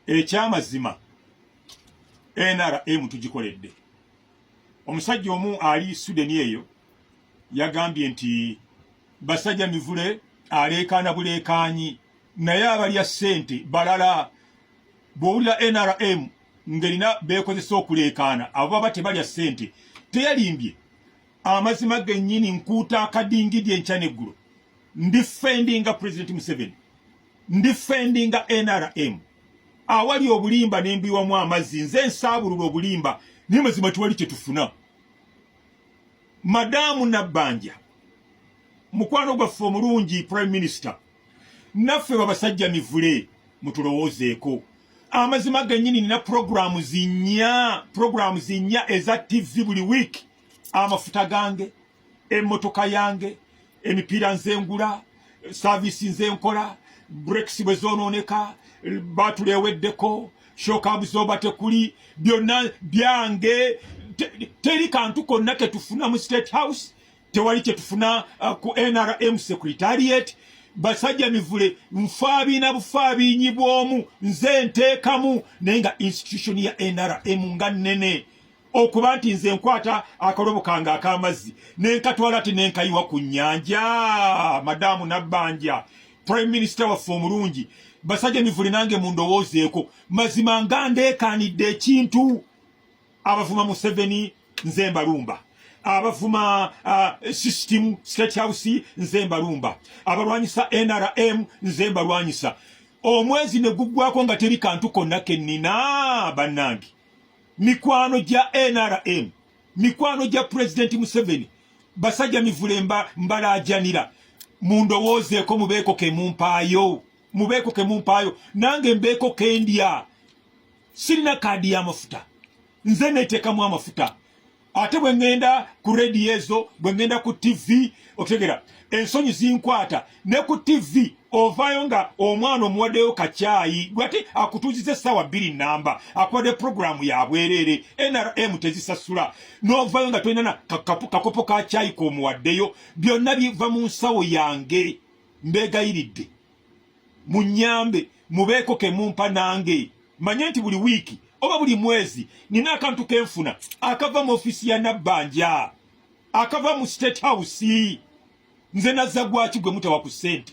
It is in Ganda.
ekyamazima nrm tugikoledde omusajja omu ali sudeni eyo yagambye nti basajja mivule aleekaana buleekaanyi naye abalya ssente balala bw'owulira nrm ng'erina beekozesa okuleekaana abo baba tebalya ssente teyalimbye amazima genyini nkuuta akadingidi enkya neggulo ndifendinga president museveni ndifendinga nrm awali obulimba nembiwamu amazzi nze nsaabulula obulimba naye mazima tewali kyetufuna madaamu nabbanja mukwano gwaffe omulungi prime minister naffe babasajja mivule mutulowoozeeko amazima genyini nina programu zinya programu zinya eza tv buli wiiki amafuta gange emmotoka yange emipiira nzengula saavisi nzenkola brekisi bwe zoonooneka baatula eweddeko shokabu zoba tekuli byonna byange teri kantu konna ketufuna mu state house tewali kyetufuna uh, ku nrm secretariat basajja mivule nfaabiina bufaabiinyi bw'omu nze nteekamu naye nga institution ya nrm nga nnene okuba nti nze nkwata akalobo kange ak'amazzi ne nkatwala ati ne nkayiwa ku nnyanja madaamu nabbanja prime minister waffe omulungi basajja mivule nange mu ndowoozeeko mazima nga ndeekaanidde ekintu abavuma museveni nze mbalumba abavuma uh, system state house nze mbalumba abalwanyisa nrm nze mbalwanyisa omwezi ne guggwako nga teri kantu konna ke nnina bannange mikwano gya nrm mikwano gya president museveni basajja mivule mba mbalajanira mundowoozeeko mubeeko kemumpaayo mubeeko kemumpaayo nange mbeeko kendya sirina kaadi y'amafuta nze neteekamu amafuta ate bwe ŋŋenda ku rediyo ezo bwe ŋŋenda ku tivi otegera ensonyi zinkwata ne ku tivi ovaayo nga omwana omuwaddeyo kakyayi gwati akutuuziza essaawa bbiri nnamba akuwadde puroguramu ya bwereere nrm tezisasula n'ovaayo nga tolina na kakopo ka kyayi k'omuwaddeyo byonna biva mu nsawo yange mbeegayiridde munyambe mubeeko kemumpa nange manye nti buli wiiki oba buli mwezi nina akantu kenfuna akava mu ofisi ya nabbanja akava mu state house nze nazza gwaki gwe mutawa ku ssente